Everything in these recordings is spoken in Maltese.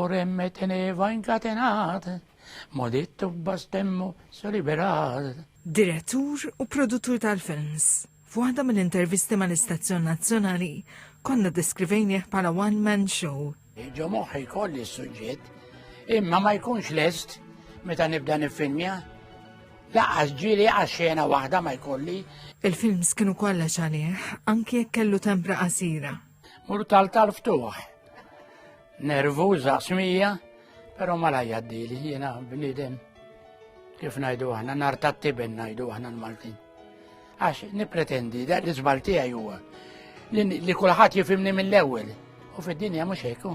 Oremmet teneva inkatenat, modittu bastemmu su liberat. Direttur u produttur tal-films. F'waħda mill-intervisti mal-istazzjon nazzjonali, konna deskrivejnieh bħala one-man show. Ġo moħħi kolli s-suġġett, imma ma jkunx lest meta nibda nifilmja. Laqas ġili għaxxena waħda ma jkolli. Il-films kienu kollha xalih, anki jekk kellu tempra qasira. Mur tal-tal-ftuħ. Nervuża smija, però ma lajjaddili jiena bniedem kif ngħidu aħna nar tat-tiben ngħidu aħna l-Maltin. Għax nippretendi da l-iżbal tiegħi huwa li kulħadd jifimni mill-ewwel u fid-dinja mhux hekk.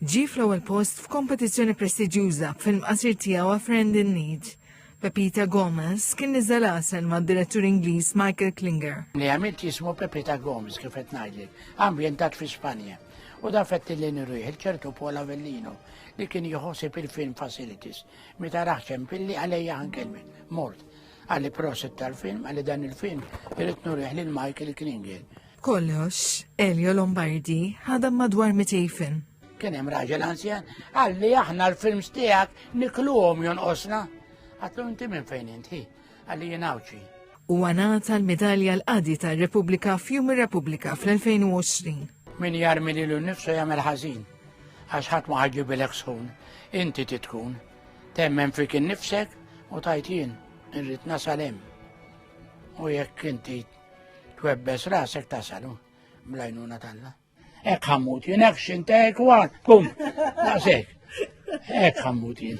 Ġi fl-ewwel post f'kompetizzjoni prestiġjuża film qasir tiegħu A Friend in Need. Pepita Gomez kien niżel għasel ma' direttur Ingliż Michael Klinger. Li għamilt jismu Pepita Gomez kif qed ngħidlek, ambjentat fi Spanja. U da fetti li nirriħ il-ċertu Paul Avellino li kien jħossib il-film facilities. Meta raħċem pilli għalija għankelmi, mort. Għalli proset tal-film, għalli dan il-film, irrit nurriħ lil Michael Klingel. Kollox, Elio Lombardi ħadam madwar 200 film. Kien hemm raġel anzjan, għalli aħna l-films tiegħek nikluhom jonqosna. Għatlu inti minn fejn inti. Għawċi. U għanata l-medalja l-qadi tal-Repubblika f'Jum ir-Repubblika fl-2020. Min jarmi li l-nifsu jagħmel ħażin, għax ħadd ma ħaġibilek sħun, inti titkun, temmen fik innifsek u tajt jien, irrid nasal hemm. U jekk inti twebbes rasek tasalu blajnuna talla. Ek ħammut jien, ek xintek, kum, naqsek. Ek ħammut jien.